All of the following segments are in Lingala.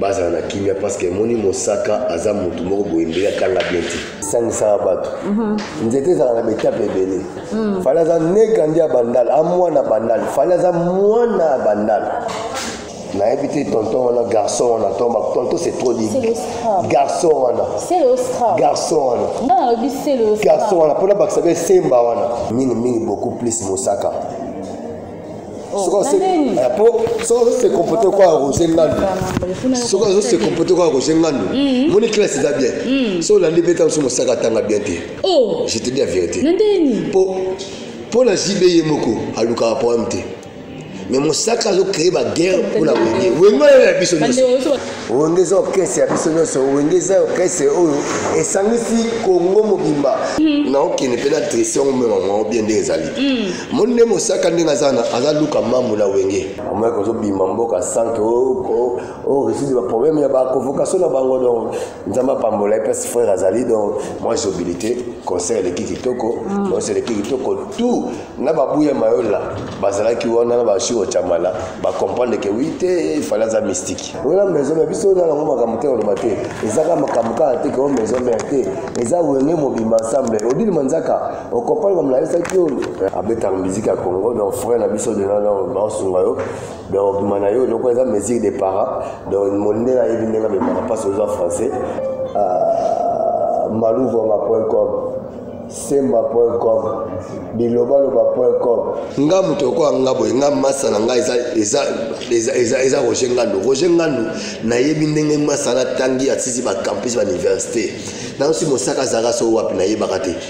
bazala na kimia parce que moni mosaka aza mutu moko boye mbele akanga bien te sangisaka bato mhm. nzete ezala na betape ebele mhm. fali aza neka nde ya bandal amwana bandal fali aza mwana ya bandal nayebi te tonton wana garçon wana tomba tonton c'est trop dit garçon wana garçon wana garçon wana mpona bakisa be semba wana mingi mingi beaucoup plus mosaka Oh, eh, po soki azo se comporte kwa roger ngandu soki azo se comporte kwa roger ngandu mm-hmm. moni classe eza bien mm. so olandi mpe ntango so mosaka atanga bien te oh. je te dis la vérité po mpo na jb ye moko alukaka problème te mais mosaka azo créer baguerre mpo na wenge wenge oyo ya biso nyonso wenge eza orkestre ya biso nyonso wenge eza orkestre oyo esangisi kongo mobimba hmm. naokende mpe na trese yango mema mwango bien nde ezali hmm. moni nde mosaka ndenge aza na aza luka mambu na wenge omaki ozobima mboka sanke oreside baproblème ya baconvocation na bango donc nzambe apambola ye place frère azali donc moi jobilité concert eleki kitoko nyonso mm. eleki kitoko tout na babu ya mayola bazalaki wana na bashuro chamala bacomprendre ke wi te ifale aza mystique ola maison ya biso na yango makambo te oloba te ezaka makambo kaka te keo maison mare te eza wenge mobimba ensemble odile manzaka okompani bamlayisaki yo abetaka miziki ya congo donc frère na biso dena donc baosunga yo donc obima na yo eloko eza mesure de para donc mondele ayebi ndenge amemaka mpasi oza français ah, maluvanga point com semba point com bilobaloba point com nga moto okoya nga boye nga masa na nga eza roger ngandu roger ngandu nayebi ndenge masa natangi asisi bacampus bauniversité nayosi mosaka azalaka so wapi nayebaka te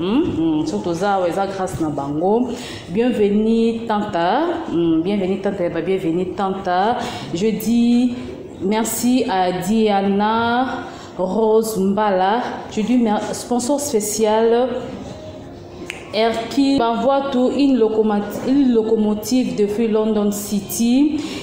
Mm, mm, soki toza awa eza grâce na bango bienvenue tanta mm, bienvenue tanta ya babienvenue tanta je dis merci à diana rose mbala je dis sponsor spécial Erki Bavwatu, une locomotive, une locomotive depuis London City.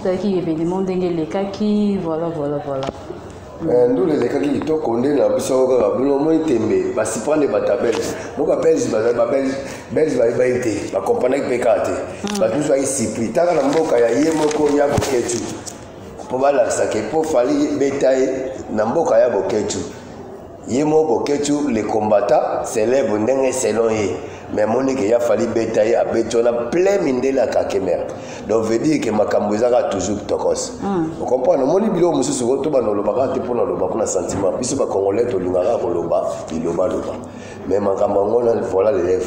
ezalaki evenema ndenge elekaki voilà voilà voilà eh, ndule elekaki kitoko nde na biso kaka bino omoni tembe basiprande bato ya belge moko babelge babelge bayebai te bakompanaki mpe kaka te hmm. bato mosusu baki sipri taka na mboka ya ye moko ya boketu mpo balakisaka mpo fali beta ye na mboka ya boketu ye mo boketshu le combattant célèbre ndenge selon ye mais amoni ke ya fali beta ye abeti wana plein mindele ya kakemere donc veut dire ke makambo eza kaka toujours tokos hmm. ocomprendre omoni biloko mosusu ko tobanda olobaka te mpona oloba kuna sentiment biso bacongolais tolingaka koloba bilobaloba mais makambo yango na voilà lelève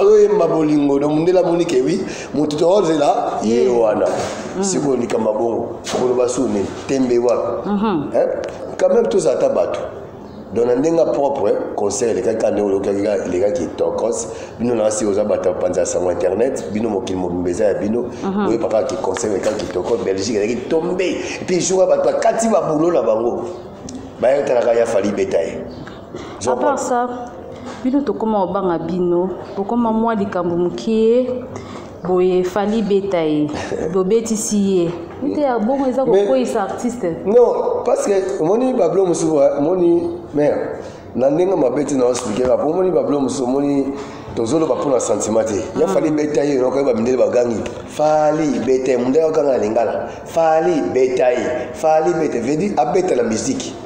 azoyemba bolingo na mondele amoni ke wi moto tokozela ye wana mm. sikoyo likambo bongo koloba su nini tembe wapi mhm. eh? quand même tozala ata bato donc na ndenge propre conseil elekaki ka ndenge olokaki elekaki tokos bino na asi oza bato bapanza ya sango internet bino mokili mobimba eza ya bino mhm. oyeba kaka kiconseil elekaki kitoko belgique eleki tombe epuis jour ya bato bakati babulo na bango bayetalaka ya fali beta ye à part ça bino tokoma obanga bino bokoma mwa likambo mokie boye fali beta ye bobetisi ye te ya bongo eza kokoyisa artiste non parce que omoni bablo mosusu omoni mare na ndenge mabe te na osplikaka po omoni bablo mosusu omoni tozoloba mpo na sentiment te ya fali mm. beta ye okoyeba mindele bagangi fali beta ye mondele akanga na lingala fali beta ye fali beta vedi abeta na miziki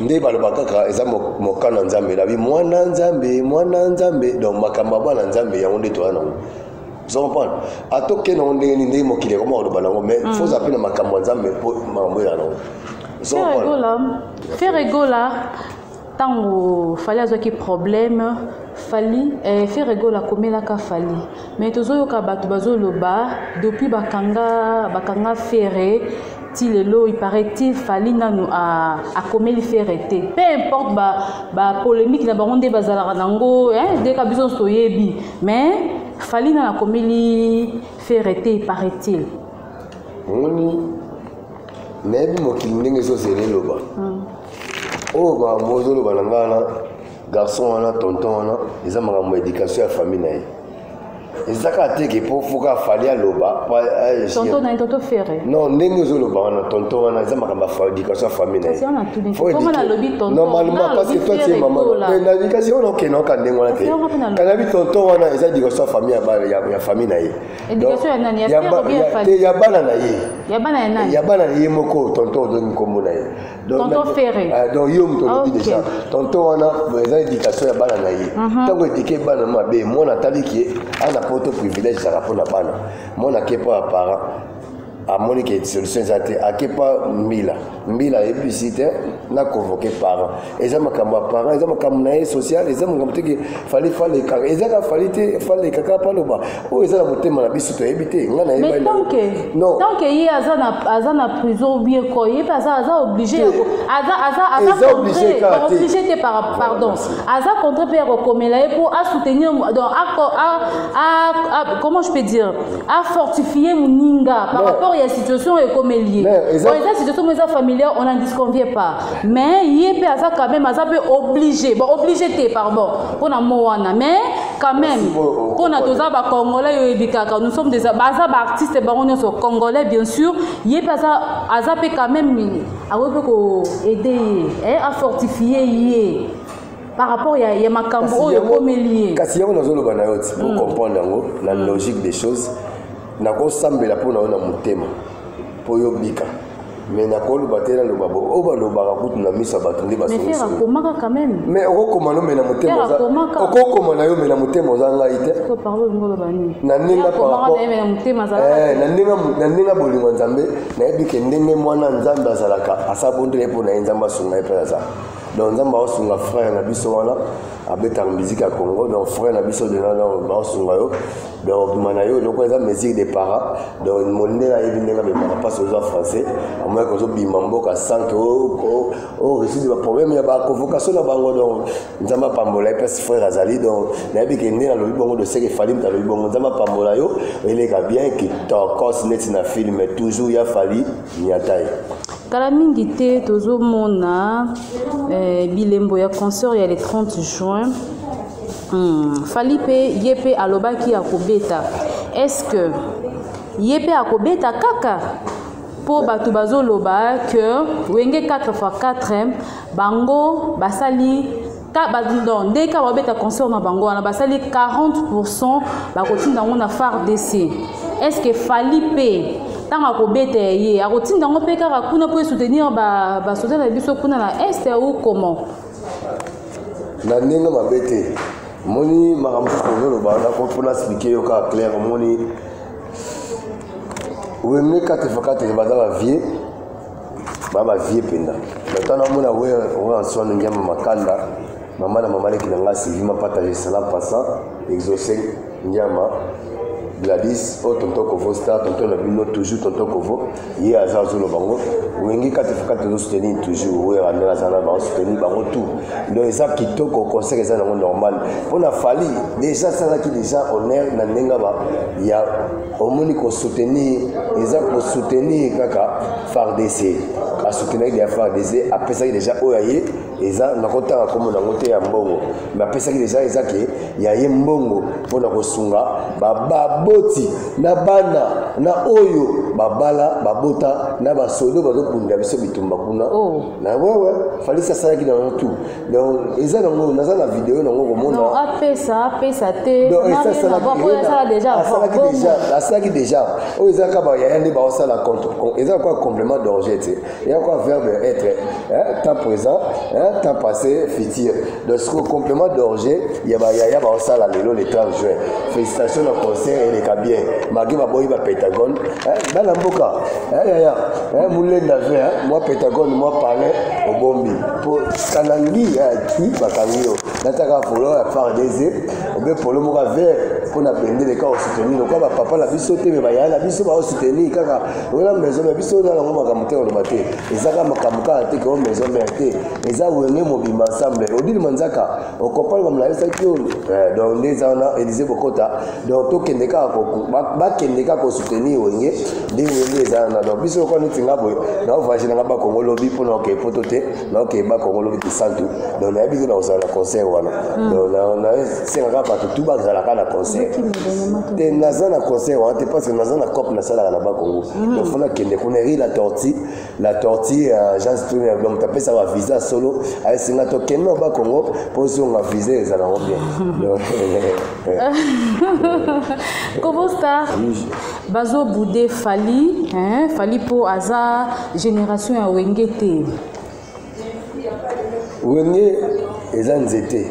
nde baloba kaka eza moka na nzambe nabi mwana nzambe mwana nzambe donc makambo ya bana nzambe yango nde toya nango ozo comprendre ata oke nango ndenge nini ndenge mokili ekoma koloba nango mais mm. foza mpe na makambo ya nzambe mpo makambo eza nango fere gola ntango fali azwaki problème fali eh, fere gola akomelaka fali mais tozoyoka bato bazoloba depuis bakanga bakanga fere ti lelo il paraît-il fali nanu akomeli fere te peu importe bapolémique na bango nde bazalaka nango deka biso nyonso toyebi mais fali nanu akomeli fere te il paraît-il omoni nayebi mokili ndenge ezozela eloba hmm. oyo bamozoloba na ngai wana garçon wana tonton wana eza makambo ya éducation ya famille na ye eza kaka te ke mpo foka afali aloba tonton na ye tonton ferre non ndenge ozoloba wana tonton wana eza makambo ya éducation ya famille na yenormalement parce que toi tie mama nalobi kasi ona okenda oka ndenge wana te kanabi tonton wana eza éducation ya famille ya famille na ye ya bana na ye ya bana na ye moko tonton ozongi nkombo na ye tonton ferre ah, donc yo moto olobi déjà tonton wana eza éducation ya bana na ye mhm. ntango édike bana mabe mwana atali ke ana poto privilège ezalaka mpo na bana mwana ake mpo ya parent amoni ke solution eza te ake mpo mbila mbila ayebisi te na convoqué parent eza makambo ya parent eza makambo na ye social eza makambo teke fali faleka eza ka fali te faleka kaka paloba oyo eza na motema na biso toyebi te nga nayebitanke ye aza na prison obie ko ye mpe aza oblige oblige te pardon aza contre mpe ya kokomela ye mpo asoutenir donc comment je peux dire afortifie moninga par rapport ya situation ekomeli ye bon eza situation mo eza familiar on en disconvie pas mais ye mpe aza quand même aza mpe oblige bon oblige te pardon mpo na mo wana mais quand même mpona toza bacongolais yo oyebi kaka nous sommes des baza baartiste bango nyonso congolais bien sûr ye mpe aza aza mpe quand même akoki mpe koaide ye eh, afortifie ye par rapport ya, ya makambo oyo ekomeli ye kasi yango nazoloba na yo ti po hmm. comprendre yango na hmm. logique des choses nakosambela mpo na yo na motema mpo yo bika mais nakoloba te naloba bo oyo balobaka kutu na misa bato nde basoakomaka quand même mais okokoma no me na motema okokoma na yo me na motema oza ngai te na ndenge eh, na ndenge bolingo ya nzambe nayebi ke ndenge mwana nzambe azalaka asabondela ye mpo na ye nzambe asunga ye mpe aza donc nzambe aosunga frère na biso wana abetaka miziki ya congo donc frère na biso dena baosunga yo donc obima na yo eloko eza mesure de para donc mondele ayebi ndenge abemaka mpasi oza français amonaki ozobima mboka sanke oreside baproblème ya baconvocation na bango donc nzambe apambola ye mpasi frère azali donc nayebi ke ndenge alobi bongo doseke fali moto alobi bongo nzambe apambola yo eleka bien kitokos neti na filme toujours ya fali niatai kala mingi te tozomona eh, bilembo ya concert ya le 30 juin hmm. fali mpe ye mpe alobaki akobeta est ce que ye mpe akobeta kaka mpo bato bazoloba que wenge 4 x 4 bango basali ka ba non nde ka babeta concert na bango wana basali 40 pourcent bakotinda yango na fardc est ce que fali mpe ntango akobeta ya ye akotinda yango mpe kaka kuna mpo esoutenir basoda na biso kuna na est ou comment na ndenge mabe te moni makambo ozoloba nakopona explike yo kaka claire omoni wemne kate fakate baza bavie ba ba vie penda bato wana amona weransoano ngiama makanda mama na mama leki na ngai sylvie mapatage sala passant exauce ngiama gladis oyo oh, tonton kovo star tonton na bino toujours tonton kovo ye aza azoloba bango wenge kati fokati tozosoutenir toujours wera ndenge aza na bango soutenir bango tout donc eza kitoko conseil eza nango normal mpo na fali déjà asalaki déjà honneur na ndenge ya omoni ko soutenir eza ko soutenir kaka fardc asoutenaki deja fardc apesaki deja oyo ya ye eza nakotanga nkombo nango te ya mbongo me apesaki deja eza ke ya ye mbongo mpo na kosunga baboti na bana na oyo babala babota na basodo bazokundela biso bitumba kuna oh. na wewe falisi asalaki na wana tu donc eza nango naza na video nango komonaapesa apesa te asalaki deja oyo eza kaka bayaya nde baosala contre eza kwa complément d'orge te eza kwa verbe être temps présent temps passé futur donc siko complément d'orge ya bayaya baosala lelo le 30 juin félicitation na concert eleka bien magi baboyi ba pentagone bana mboka yaya molenda ve mwa pentagone mwa palais obombi po kanangi ya ti bakangi yo nataka polo ya part des obe polo moko vert mpo na bendele kaka osoutenir lokola bapapa na biso te me bayaya na biso baosoutenir kaka lokola maison mare biso na yango makambo te oloba te ezaka makambo kaka te keo maison mare te eza wenge mobimba ensemble odile manzaka okompani bamolalisaki yo eh, donc nde eza wana elise kokota donc tokende kaka bakende kaka kosoutenir wenge ndenge wenge eza wana donc biso lokola neti nga boye naovage nanga bakongo lobi mpo na okei poto te naokei bakongo lobi kisantu donc nayebi te nakozala na concert wana hmm. donc nasengaka bato tu bazalaka na concert te naza na concert wana te parce que naza na cope nasalaka na bakongo hmm. donc fo nakende kuna ri la torti la tortue uh, jean stone donc tapesa ba visa solo ayesinga tokende na ba congo mpo ozonga visa ezala yango bien kobo star bazobude fali fali mpo aza génération ya wenge te wenge eza nzete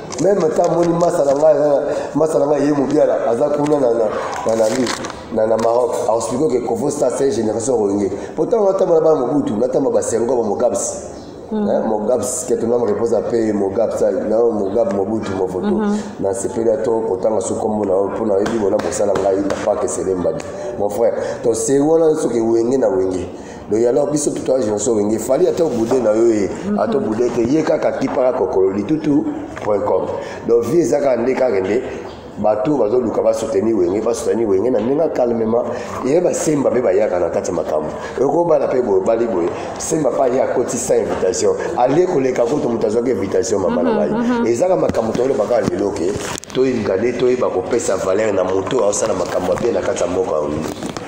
meme ta moni masa na ngai masa na ngai ye mobiala aza kuna na nani na na maroc aexplike ke kovo sta se génération rolinge po ntango natamba na bana mobutu natamba basengo ba mogabs hmm. eh, mogabs keto nam repose ape mogab sa na mogab mobutu mofoto hmm. nasepeli ato kotanga so kombo na mpo na yebi bona mosala ngai na pake selembadi mon frère to se wana soki wenge na wenge donc ya lor biso tutu agenso wenge fali ata obude na yo ye mhm. ata obude te ye kaka kipaka kokolo litutu point com donc vie eza kaka nde kaka nde bato bazoluka basoutenir wenge basoutenir wenge na ndenge calmement eye basemba mpe bayaka na kati ya makambo ekobala mpe boye obali boye semba mpe aye akotisa invitation alie koleka kutu moto azwaki invitation mama na mhm, ngai mhm. ezaka makambo toyolobaka lelo ke toyinga nde toyeba kopesa valeur na moto aosala makambo ya mpe na kati ya mboka yango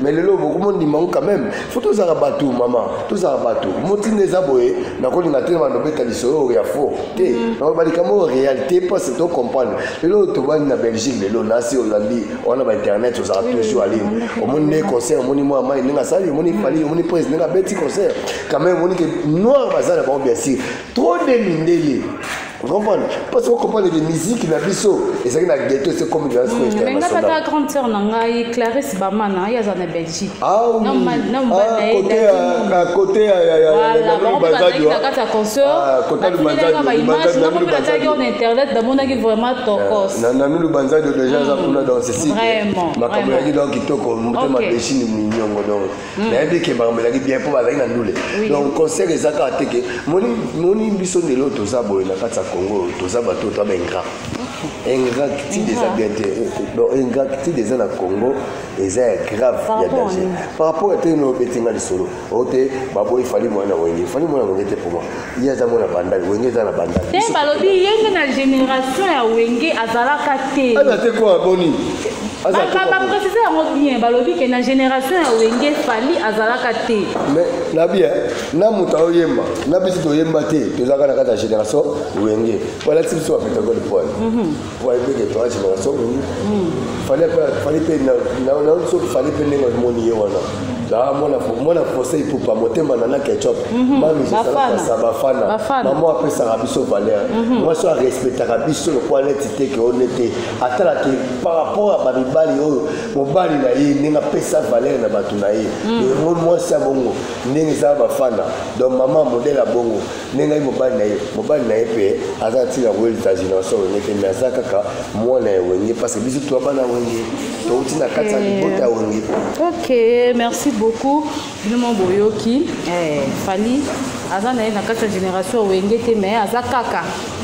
mais lelo bokomondima ngo quand même fo tozala bato mama tozala bato motinda eza boye nakolinga te bana obeta lisolo oyo ya fo te mm. nakoba likambo oyo réalité mpose to comprendre lelo oyo tobandi na belgique lelo nasi olandi wana ba internet ozala toujours aline omoni nde concert omoni mwa mai ndenge asali omoni pali omoni prise ndenge abeti concert quand même omoni ke noir baza na bango bien sûr trop de mindele okomprendre parce que okomprendre ke miziki na biso ezalaki na ghetto ese comme de lasco international nga tata grande sœur na ngai clarisse bamana ye aza na belgique côté na kati ya consortnakotelelanga baimage nako mpe nataki on internet namonaki vraiment tokos nanu lubanzadio déjà aza kuna donc ceci makambo yaki donc kitoko motema deshini minyongo donc Mm. nayebi ke makambo elaki bien mpo bazalaki na ndule donc conseil eza kaka te ke moni biso ndelo oyo toza boye na kati ya congo oyo toza bato oyo toaba ingrat ingratitude eza bien te donc ingratitude eza na congo eza ya grave ya danger par rapport ete no obetinga lisolo oyo te baboyi fali mwana wenge fali mwana wenge te mpo moi ye aza mwana bandal wenge eza na bandal te balobi ye nde na génération ya wenge azalaka te aza te kwa boni baprécise yango bien balobi ke na génération ya wenge fali azalaka te na bien na moto aoyemba na biso toyemba te tozalaka na kati ya génération wenge balakisi biso bapetagole pole wayebeke toaji masomo fali mpe naoki soki fali mpe ndenge omoni ye wana mwana français ipupa motema nana ketchup mhm. mamijesalaasa bafana mama apesaka biso valeur mhm. mwasi oyo arespectaka biso lokola neti te ke one te atalaki par rapport ya bamibali oyo mobali na ye ndenge apesa valeur na bato na ye mhm. yango mwasi ya bongo ndenge eza bafana donc mama modele ya bongo nde ngai mobali na ye mobali na ye mpe aza ntina koyeli tagination wenge te mai aza kaka mwana ya wenge parce biso twa bana wenge touti na kati ya libota ya wenge ok merci beaucoup bino mo boyoki eh, fali aza na ye na kati ya génération wenge te mai aza kaka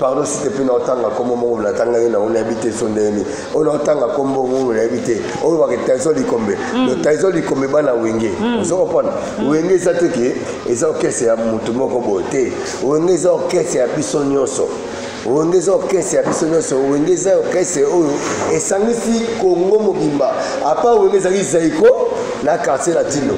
pardon site mpe na otanga nkombo moko na tanga ye nango nayebi te so ndeyemi oyo na otanga nkombo moko nayebi te oyo bake taiso likombe mm. no taiso likombe bana wenge mm. ozo kopona mm. wenge eza te ke eza okese ya motu moko boye te wenge eza okese ya biso nyonso wenge eza orkestre ya biso nyonso wenge eza orkestre oyo esangisi kongo mobimba apa wenge ezalaki zaiko na quartier latino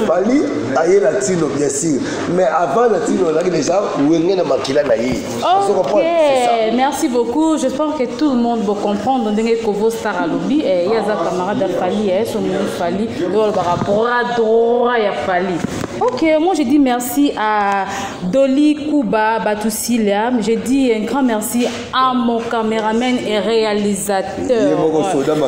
fali aye latino bien sûr mais avant la tino olaki déjà wenge na makila na ye okay. merci beaucoup je pense que tout le monde va comprendre ndenge kovo star alobi eh, ye aza camarade ya fali eh, somoni fali nde olobaka bras droit ya fali Ok, moi je dis merci à Dolly Kuba Batusilia. Je dis un grand merci amo cameraman et réalisateur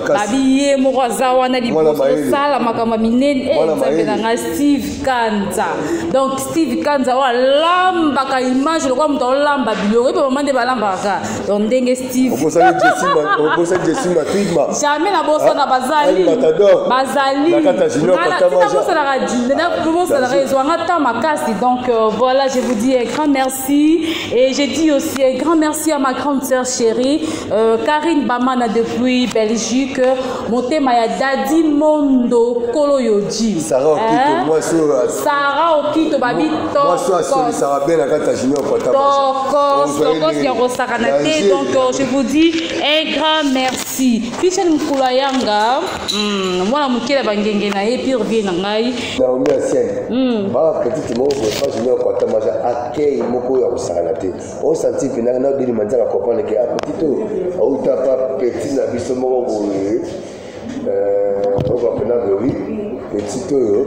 babi ye moko aza wana liboso osala makambo ya minene e eh, nzambe na ngai steve kanza donc steve kanza oyo alambaka image lokola moto aolamba biloko ebe mama nde balambaka donc ndenge stevejamai nabosana ah, bazali bazalinabosanaka ezwanga temps makasi donc euh, voilà je vous dis un grand merci Merci. Et j'ai dit aussi un grand merci à ma grande sœur chérie, euh, Karine Bamana depuis Belgique, Motema ya Daddy Mondo Kolo Yoji. Sarah Okito, hein? moi sur euh, Sarah Okito babi Tokos. Moi sur Soli Sarah Bella Kata Junior Kota. Tokos, Tokos ya Rosakana te. Donc euh, je vous dis un grand merci. Fichel Mkula Yanga. Hmm, mwana moke na bangenge na ye pure vie na ngai naomi asiani hmm. baa petite moko boefage moko atamaja akei moko oyo akosakana te osanti mpena na odeli manzaka comprendre ke apetite oyo auta pa petit na biso moko boye euh, oyo bapena boyi petite oyo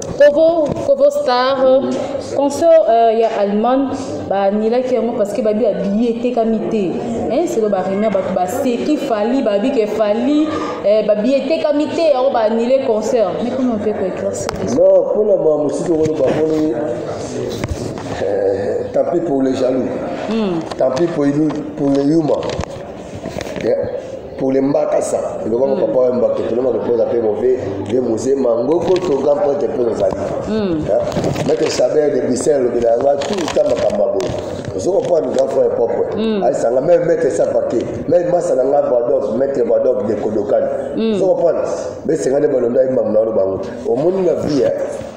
Kovo, Kovo Star, concert euh, ya Allemagne, ba nilaki yango parce que babi abiye etekami te. Hein, c'est le baremia bato ba seki fali babi ke fali eh, babi etekami te yango ba annule concert. Mais comment on peut ko éclaircir les Non, pour le moment, musique au Rwanda, tant pis pour les jaloux, mm. tant pis pour, pour les humains. pour les mbakasa eloba ko papa yamba ke tolema ko poza pe move de musée mango ko to grand prêtre pe nos amis hmm. maître saber de bisel le bela va tout le temps makamba bo zoko pa ni grand frère propre hmm. ay sanga même maître sa paquet même masa na ngaba donc maître ba donc de kodokan hmm. zoko pa be senga de balonda imam na lo bango omoni na vie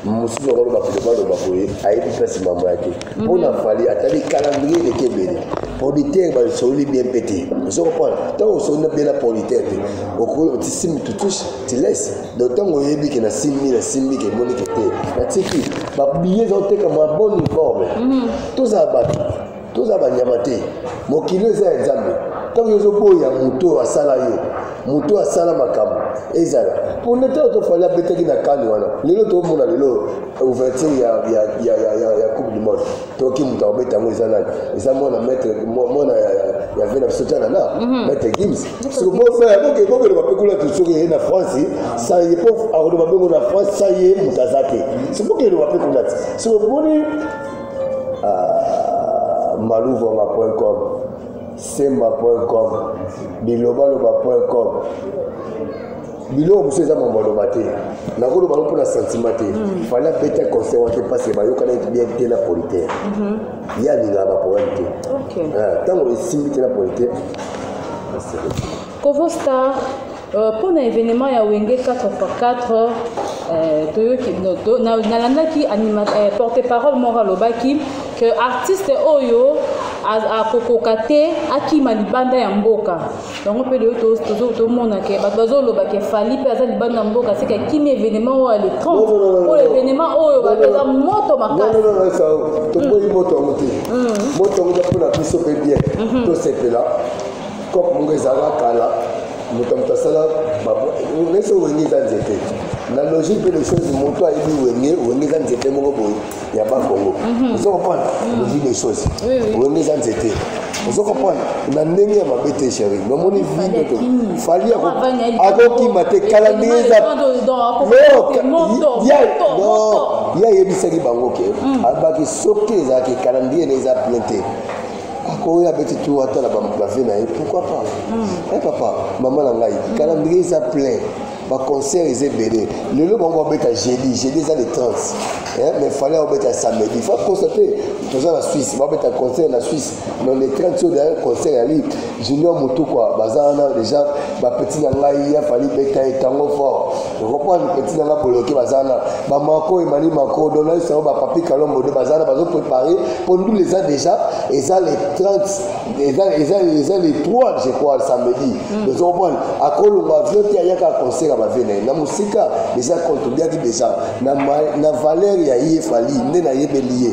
mosusu akoloba biloba loba boye ayebi mpasi mambo yake mhm. mpo na fali atali calendrier eleki ebele politaire basololi bien mpe te ozo comprendre ntango osololi bien na politaire te okoki oti simi tutushe tilese donc ntango oyebi ke nasimbi nasimbi ke emoni ke te natiki babiye ezaotekama bon uniforme mhm. tozala bato toza banyama te mokili eza ya nzambe ntango yo ozoboya moto oyo asala yo moto oyo asala makambo ezala mpo nde ntango tofali abetaki na kani wana lelo tomona lelo ouverture ya, ya, ya, ya, ya, ya coupe du monde toki moto akobeta yango eza nani eza mwana maître mwana ya, ya vena biso tana na mhm. maître gims bokeloba mpe kuna soki ye na france sa ye mpo akoloba mpe ngo na france sa ye moto aza te soki bokeloba mpe kuna te soki omoni ah, maluvuama.com semba.com bilobaloba.com biloko mosusu eza mambo aloba te nakoloba yango mpo na santima te mm. fali apeti conseil wake mpasi bayokanaki bien te na politaire mhm. ye alingaka baproblème te ntango ah, esimbi te na politaire Kovo Star, euh, mpo na evenement ya Wenge 4x4 euh, toyoki nalandaki euh, porte parole moko alobaki que artiste oyo akokoka te akima libanda ya mboka yango mpe lelo tozomona ke bato bazoloba ke fali mpe aza libanda ya mboka seke akimi evenement oyo ale 30 oyo evenement oyo bapeza moto makasitoboyi moto yango te moto yango mpona biso mpe bien tosepela cope moko ezalaka kala moto ya moto asala nese wenge eza nzete na logique mpe les choses moto ayebi wenge wenge eza nzete moko boye ya bakongo mhm. ozo comprendre mhm. logique des choses wenge eza nzete ozo comprendre na ndenge ya mabe te chéri nomoni vide to fali akokima te kala ndenge eza ye ayebisaki bango ke hmm. abaki soki ezalaki kala ndenge eza plein te akoya abeti tour atala bave na ye pourquoi pas e papa mama na ngai calendrier eza plein baconcert eza ebele lelo bango babeta jeudi jeudi eza le 30 eh, mais fale abeta samedi fa constate toza na suisse babeta concert na suisse mais le 30 oyo daya concert yali Junior Mutukwa baza wana deja ba petit na ngai ya fali beta et tango fort. Je comprends petit na ngai boloke baza wana. Ba mako et mani mako dona ça ba papi kalombo de baza wana bazo préparer pour nous les a déjà et ça les 30 et ça et ça et ça les 3 je crois le samedi. Mm. Je comprends à kolonga vient ya yaka concert ba vena na musika déjà contribuer déjà na na valeur ya ye fali nde na yebeli ye.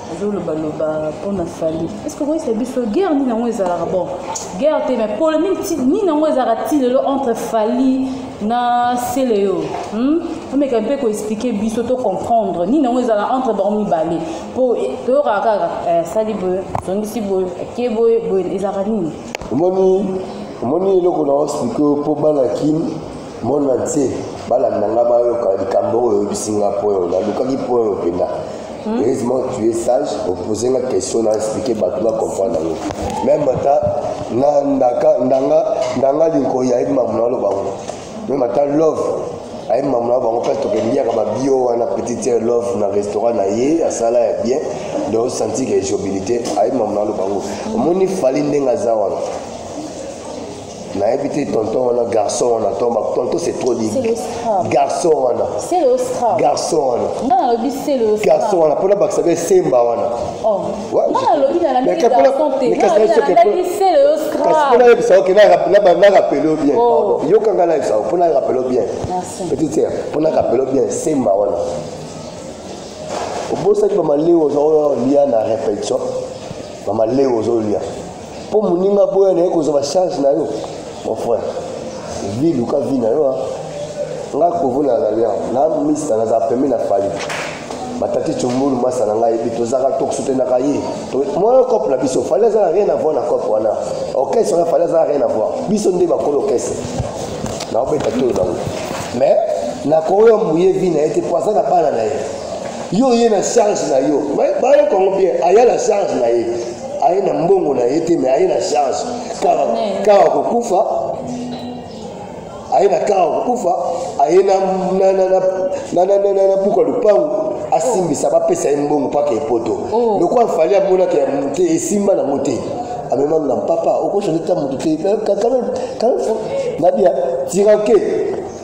ozoloba loba mpona fali eske okoyisa biso guerre nini yango ezalaka bon guerre te mais polémique ti nini yango ezalaka ti lelo entre fali na seleyo hmm? omeka mpe koexplike biso to comprendre nini yango ezalaka entre bango mibale mpo toyokaka kaka eh, sali boye zongisi boye ake boye boye ezalaka nini omoni omoni eloko na oexplike mpo bana kini monde entier balanda nga bayoka likambo oyo oyebisi nga point oyo nalukaki point oyo mpenza hmm? heureusement tu es sage opose nga question na explike bato bacomprendre yango meme ata na ndaka ndanga ndanga linkoyi ayebi mamu naloba ngo meme ata love ayebi mamu na bango mpe tokeliaka babio wana petite sere love na restaurant na ye asala ya bien donc senti ke jobilité ayebi mamu na aloba ngo omoni fali ndenge aza wana nayebi te tonton wana garçon wana tonton c'est trop dit garçon wana garçon wana garçon wana mpona bakisa be semba wana mpona yebisa oke narapele yo bien oh. yoka ngai nayebisa yo mpona rapele yo bien petite sere mpona rapele yo bien semba wana obosaki bamaleo oza oyo lia na répétition bamaleo ozolia mpo moninga boya na ye kozwa bacharge na yo mon frère vi luka vi na yo nga kovu na na lian na mista naza pembe na fali batati cumbulu masa na ngai ebi tozaka tokosutenaka ye moyo cope na biso fali aza na rien avoir na cope wana orchestre wana fali aza na rien avoir biso nde bakolo orchestre naobeta tolo nango mais nakoyo moye vi na ye te po aza na bana na ye yo oye na charge na yo bayo kongo bien aya na charge na ye aye na mbongo na ye te me aye na charge kaka kokufa aye na kaka kokufa aye na buka lupangu asimbisa bapesa ye mbongo mpaka epoto oh. lokola fali amonaka ya mote esimba nango te amemami na mpapa okoso nde ta moto te nabia tiranke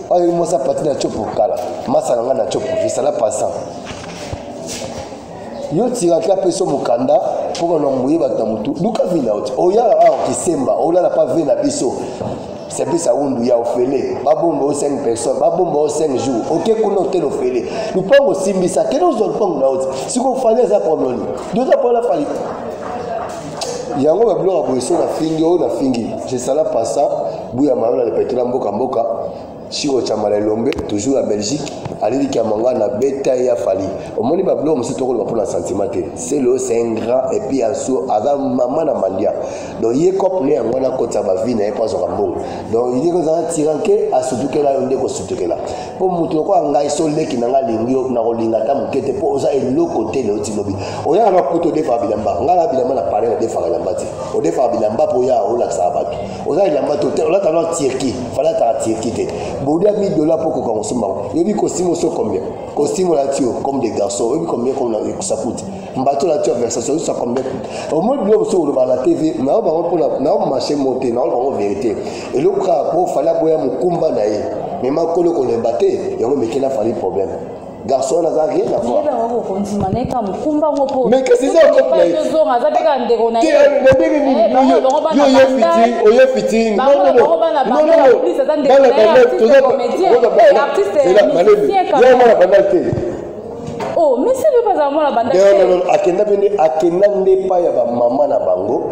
oyo mwasi apati na copo kala masa na ngai na copo esala passant yo tiraki apesi yo mokanda mpo bana moye bato na motu luka vi na yo te oyala awa kisemba olala mpa ve na biso sepesa wundu ya ofele babomba o 5 personne babomba o 5 jour oke kuna otele ofele lupango osimbisa kende ozwa lupango na yo te sikoyo fali aza problème nini yo oza mpona fali yango babiloko ya boye so nafingi oyo nafingi jesala pasa buya mayo na lepetola mboka mboka Chico Chamala Elombe, toujours à Belgique, alili Kiamanga na beta ya Fali. Omoni ba blog musu toko loba na sentiment te. C'est le c'est un grand et puis aso aza maman na mandia. Donc ye cop ne yango na kota ba vie na ye pas zoka mbongo. Donc il est za tiranke asutukela yo ndeko sutukela. Po mutu ko ngai so leki na ngai lingi na ko linga ta mukete po oza eloko te le otilobi. Oya na kuto defa bilamba. Ngala bilamba na pare na defa bilamba te. Odefa bilamba po ya olakisa batu. oza elamba to te olata na turki fala ataka turki te bolia 1000 dollar mpo okoka kosomba yango yebi kosimo so combien kosimo olati yo comme de garçon oyebi combien comme na ekosa kuta mbato olati yo versation oyosa combien kuta omoi biloko mosusu oloba na tv nao bango mpona nao marché mo te nao bango verité eloko kaka mpo fali aboya mokumba na ye me makolo kolemba te yango mekela fali problème garçon wana aza rien avouarmondima na ye kaka mokumba ngo poezonga aza mpe kaka ndeko na yeoye fiting bandal te oh, akenda mpe nde akenda nde epai ya bamama na bango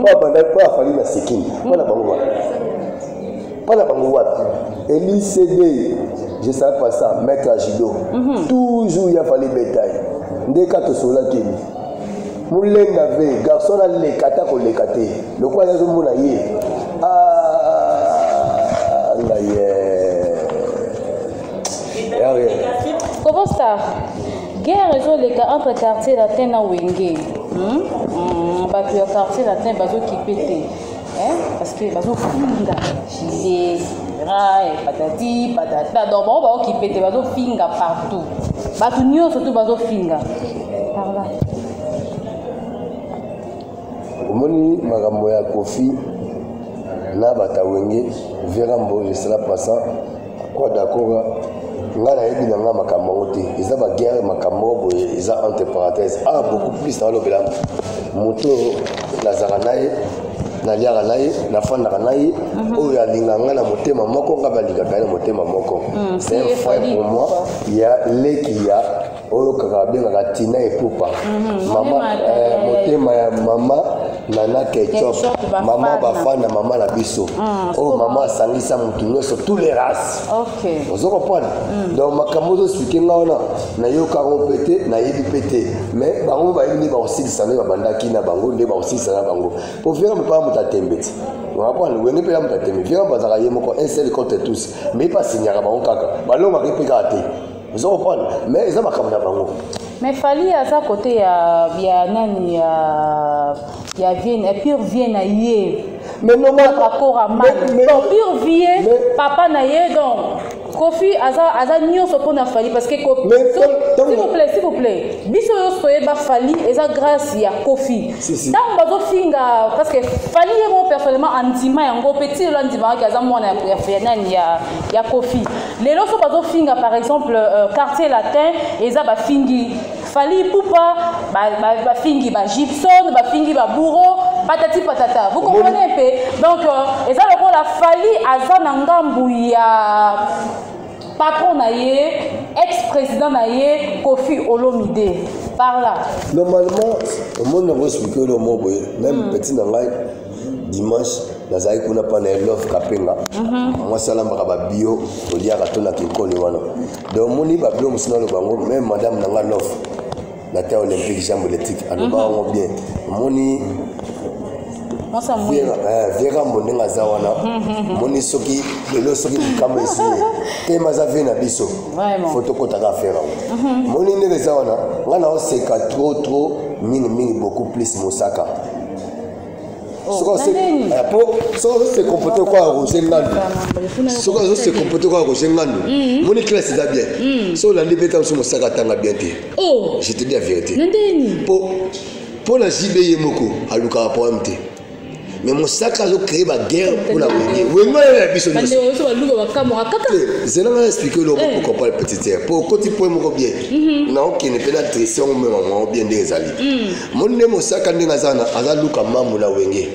mpo abanda mpo afali na sikini mpo na bango wapi mpo na bango wapi elisd je savais pas ça maître ya judo mhm. toujours ya fali betaye nde ka tosololaki ni molenga ve garçon aleka ata koleka te lokola ye azomona ye ah, ngaye Kobo Star, guerre ezoleka entre quartier latin na wenge hmm? hmm, bato ya quartier latin bazokipe te parce que bazofunda jile rai patati patata donc bango baokipe te bazofinga partout bato nyonso tu bazofinga parla omoni makambo ya kofi na batawenge vera mbo jesela passant Pourquoi Dakora nga nayebi na nga makambo yango te eza baguerre makambo moko boye eza entre parenthèse a ah, beaucoup plus nalobela moto oyo nazalaka na ye naliaka na ye nafandaka na ye mhm. oyo alinga nga na motema moko nga balingaka ye na motema moko mhm. c'est un frère pour moi ya leki ya oyo kaka abengaka tina epupa mhm, mama eh, motema ya mama nana ketchup mama bafan na mama na biso mhm, oyo oh, mama asangisa motu nyonso tous les races ozo comprendre mhm. donc makambo ozospike nga wana nayoka yango mpe te nayebi mpe te mais bango bayebi nde bakosilisa nde babandaki na bango nde bakosilisa na bango mpo vera mopaa moto atembe te wapana wenge mpe ya moto atembe vera bazalaka ye moko un seul contre tous mais pasinyaka bango kaka balongaki mpe kaka te ozo comprendre mais eza makambo na bango mais fali aza kote ya ya nani ya ya vienne ya pure vie na ye mais normal akora mal bon pure vie papa na ye donc kofi aza aza nyonso mpo na fali parce que kofi s'il vous plaît s'il vous plaît biso nyonso toyeba fali eza grâce ya kofi ntango bazofinga parce que fali ye moko personnellement andima yango mpe ti lelo andimaka ke aza mwana ya nani ya kofi lelo so bazofinga par exemple euh, quartier latin eza bafingi fali pupa bafingi ba, ba, ba gibson bafingi babouro patati patata vous comprenez mpe donc euh, eza lokola fali aza na ngambu ya patron na ye ex président na ye kofi olomide par là normalement omoni yango explike yo lomo boye même hmm. petit na ngai dimanche nazalaki kuna mpa na elove kapenga mhm. mwasi alambaka babio toliaka to na kinkoni wana donc omoni babio mosu naloba yango meme madame na nga love na terre olympique jambe électrique aloba mhm. yango bien omoni viera mbo ndenge aza wana moni soki lelo soki likambo esi te maza vie na biso fo tokotaka affaire yango moni ndenge eza wana ngai naoseka trop trop mingi mingi beaucoup plus mosaka soki se comporte kwa roger ngandu soki azo se comporte kwa roger ngandu moni classe eza bien mm. so olandi mpe ntango so mosaka atanga bien te oh. je te dis la vérité mpo na jb ye moko alukaka problème te mais mosaka azo créer baguerre mpo na koye wengo ye na biso nyonsozelanga na explike eloko eh. okompare petite mpo okoti point moko bien mhm. naokende mpe na dresse yango mema mwango bien nde ezali mm. omoni nde mosaka ndenge aza wana aza luka mambu na wenge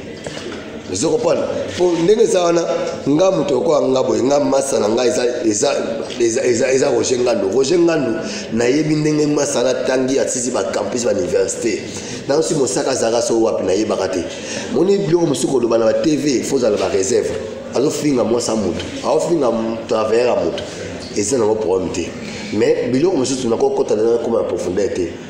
ozo comprendre mpo ndenge eza wana nga moto lokola nga boye nga masa na nga eza, eza, eza, eza, eza roger ngandu roger ngandu nayebi ndenge masa natangi atisi bacampus bauniversité nayosi mosaka azalaka so wapi nayebaka te moni biloko mosusu koloba na batv fo ozala bareserve azofinga mwasa motu aofinga travailleur ya motu eza nango problème te mais biloko mosusu nakokota na nakoma na profondeur te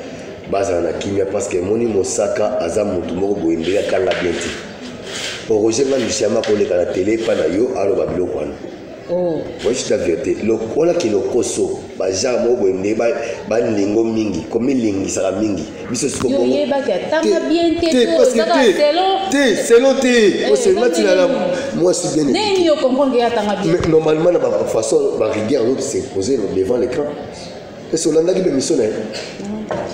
bazala na kimia parce que moni mosaka aza mutu moko boye mbele atanga bien te oroge nga luciama akoleka na tele epa na yo aloba biloko wana oh. voici la vérité lokola ke lokoso bagenre moko boye nde balingo mingi komilingisaka mingi biso sikoyebaki atanga bien te te selon te osenga tinana mwasi bien normalement na bafaçon barigueur yango se pose devant l'écran Est-ce que olandaki mpe miso na ye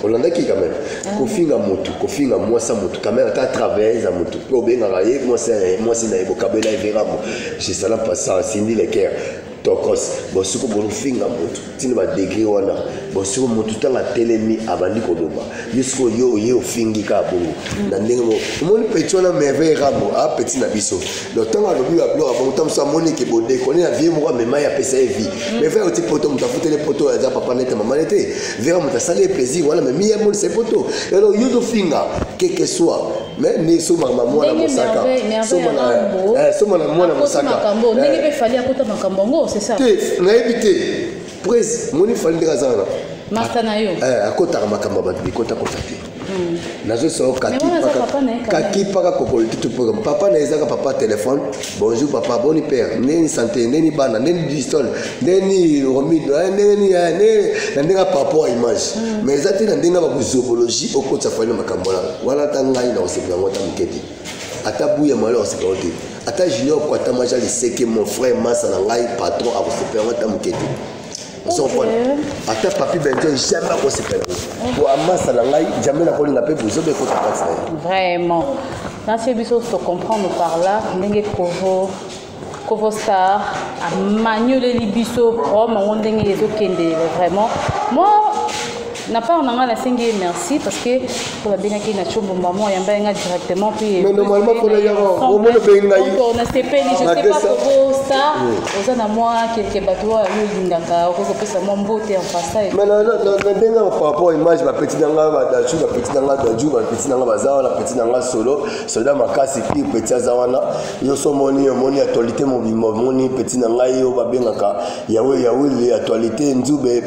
olandaki quand même ah. kofinga motu kofinga mwasi ya motu quand même ata travailleuse ya motu mpe obengaka ye mwasi na ye mwasi na ye bokabela everamo jesala pasa sindi leker tokos bosiko bofinga motu ntina badegre wana bosiko motu ntango atelemi abandi koloba yo siko yo oye ofingi kaka bongo mm. na ndenge moko omoni peti wana merveille ramo apeti ah, na biso donc ntango alobi babiloko abongo ntango mosusu amoni eke bodekone na vie moko amema ye apesa ye vie mm. mais vera oti poto moto afuteli poto aza papa nete mama nete vera moto asali ye plaisir wana mais miye amonisa ye poto alors yo tofinga keke soit mais ni soma na mwana mosaka soma na soma na mwana mosaka ndenge mpe fali akota makambo yango c'est ça te nayebi te pres moni fali ndenge aza wana masta na yo eh, akotaka makambo ya bato bikota kota te nazosa yo kakipaka kokolitutu mpo papa na ezaka papa telefone bonjour papa boni père ndeni sante ndeni bana ndeni distol ndeni romido eh, ndeni eh, ndeni na ndenge papa ya image hmm. mais eza te na ndenge bakuzobologie okotisa fani makambo wana wana ata ngai na kosepela yango ata moke te ata buya malo ya kosepela yango te ata junior kwatamaja liseke mon frère masa na ngai patron akosepela yango ata moke te ozokona ata papi benjo jamais akosepela po amasa na ngai jamai nakolinga mpe bozoba ekota kati na ye vraiment nasi biso tocomprendre par là ndenge kovo kovo star amanioleli biso problème yango ndenge ezokende vraiment moi na part na ngai nasengi ye merci parce que mpo babengaki na combo mbamo ayamba ye ngai directement puis mais normalement mpona yango omona obengi ngai nasepeli je sais pas kobo star oza na mwa kelke bato oyo yo olingaka okoki kopesa mwa mbote en passage mais na ndenge yango par rapport image bapeti na ngai badaju bapeti na ngai daju bapeti na ngai baza wana peti na ngai solo soda makasi pire peti aza wana yo so omoni omoni actualité mobimba omoni peti na ngai oyo babengaka yawe yawili actualité nzube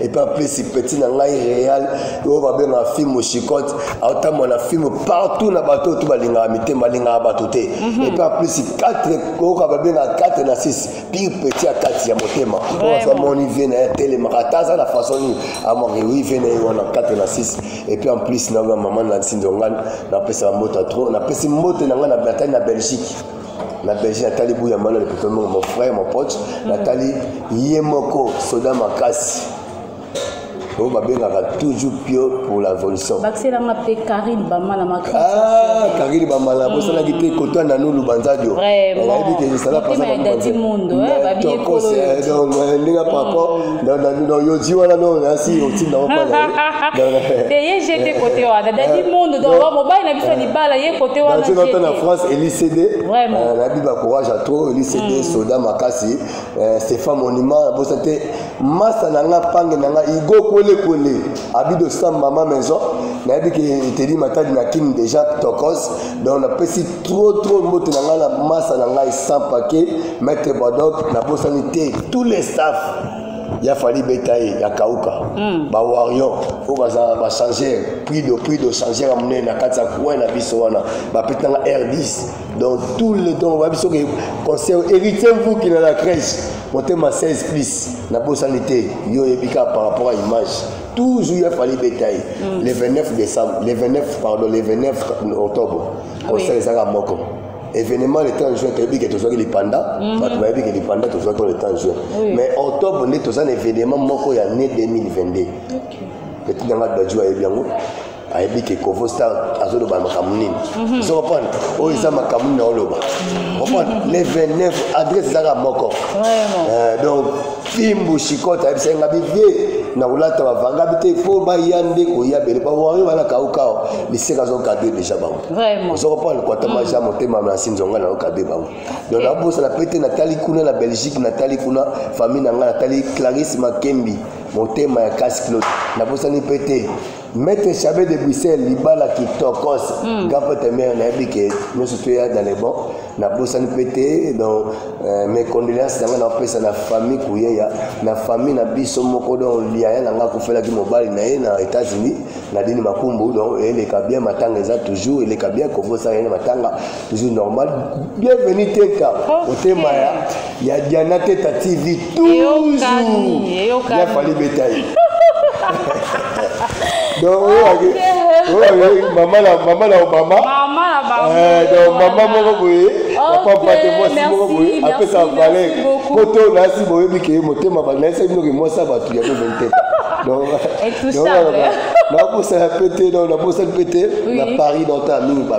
epe aplesi peti na ngai real oyo babengaka filme chicote aotambwa na filme partout na bato oyo to balingaka mitema balingaka bato te mhm. epe aplesi 4 oyoka babengaka 4 na 6 pire peti ya kati ya motema oyo azo amoni vie na ye atelemaka ata aza na façon nini amoni wi vie na ye wana 4 na 6 epe en plus na oyo mama na nsinzongani napesaka mbote ya trop napesi mbote na ngai na bertani na belgique na belgi natali buya mbala lepito mbongo mon frère mon pote mm. natali ye moko soda makasi oyo babengaka toujours pio pour la révolution bakiselanga mpe karine bamala ah, karine bamala mm. bosalaki te koto nanu lubanzadio nayebi te esalapasaaakose eh, eh, ndenge par rapport yoji wana no nasi otinda eye jete kote wana dadi mondo doa mobali na biso libala ye kote wanaata na france elicd nabi bacourage a trop elicd soda makasi stéphan monument nabosa te masa na nga pange na nga igo kwelekwele abido sam mama maison nayebi ke eteli matadi na kin déjà tokos donc napesi trop trop mbote na ngai na masa na ngai sans paquet Maître Bodoc, na bosani te tous les staff ya fali beta ye ya kauka mm. ba warrior oyo baza ba changer prix de prix de changer ya monene na kati ya coin na biso wana bapetanga r10 donc tout le temps bayebi soki conseil héritier mvuki na la crèche motema 16 plus na bosani te yo oyebi kaka par rapport à image toujours ya fali beta ye mm. le 29 décembre le 29 pardon le 29 octobre conseil ezaka moko événement le temps juin toyebi ke tozwaki lipanda mhm. bato bayebi ke lipanda tozwaki le temps juin mais octobre nde toza na événement moko ya ne 2022 petit nanga daju ayebi yango ayebi ke kovo star azoloba makambo nini mhm. ozo comprendre oyo eza makambo nini aoloba mhm. comprendre le 29 adresse ezaka moko euh, donc fimbu shikota ayebisaki nga bibie na kolata bavanga bi te mpo baya nde koya bele bawario bana kaukao liseka azokade deja bango ozokompana kwata maja ya motema nasi nzonga na okade bango don nabosana mpe te natali kuna na belgique natali kuna famille na ngai natali clarisse makembi motema ya kasi claude nabosani mpe te Maître Chabet de Bruxelles, Libala qui tokos, mm. Gapa Temer, Nabi, que nous sommes dans les bons, na bosani pete donc euh, mes condoléances nanga na pesa na famille kuyeya na famille na biso moko donc liaya nanga kofelaki mobali na ye na États-Unis na dini makumbu donc eleka bien matanga eza toujours eleka bien kovosa ye matanga toujours normal bienvenue teta motema ya ya diana teta tv toujours ya fali betaye donc oyo mama na mama na obama eh, donc mama moko boye apapa te mwasi moko boye apesa valeur po to nasi boyebi ke motema banayisa bino ke mwasi ya bato ya bobeni teta donc nakosala mpe te donc nabosani mpe te na paris donc ta mingi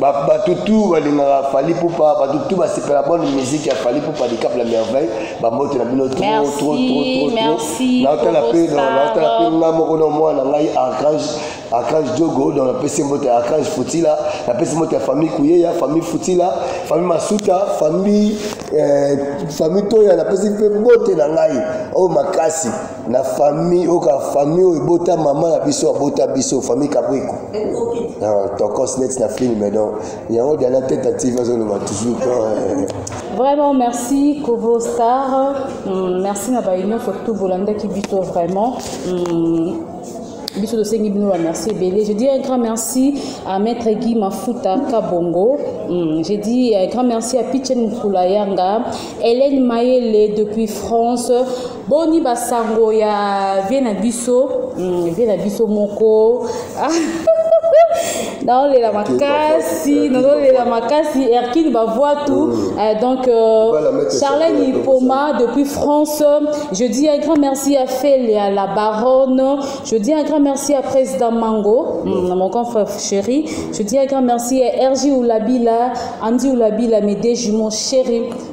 bato tu balingaka fali pupa bato tu basepela bonne musique ya fali pupa likap la merveille bambote na bino trotrotrotronaotala mpe naotala mpe nga moko na mwana ngai archange archange jogo donc napesi mbote ya archange futila napesi mbote ya famille kuyeya famille futila famille masuta famille eh, famille toya napesi mpe mbote na ngai oyo oh, makasi na famille oka famille oyo ebota mama na biso abota biso famille kabwiko ah, tokos net na film donc yango diana teta tv azoloba toujours eh. vraiment merci kovo star hmm, merci na bainioso tout bolandaki biso vraiment hmm, biso tosengi bino bamerci ebele je dis un grand merci à maître guy mafuta kabongo hmm, je dis un grand merci à pichen mukula yanga hélène mayele depuis france boni basango ya vie na biso mm, vie na biso moko ah. naolela makasi nazolela makasi erkine bavwatu mm. euh, donc euh, charlene ipoma depuis france je dis un grand merci à felia la baronne je dis un grand merci à président mango mm. mon grand frère chéri je dis un grand merci à ergi oulabila andy oulabila mes deux jumeaux chéri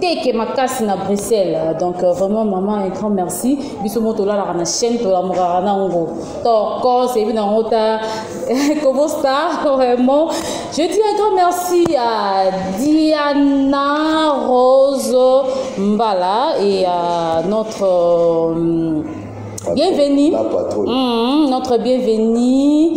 teke makasi na bruxelles donc euh, vraiment maman un grand merci biso mo tolalaka na chaîne tolamukaka na yango toko seyebi na yango ta kobo star vraiment je dis un grand merci à diana rose mbala et à notre euh, bienvenue mmh, notre bienvenue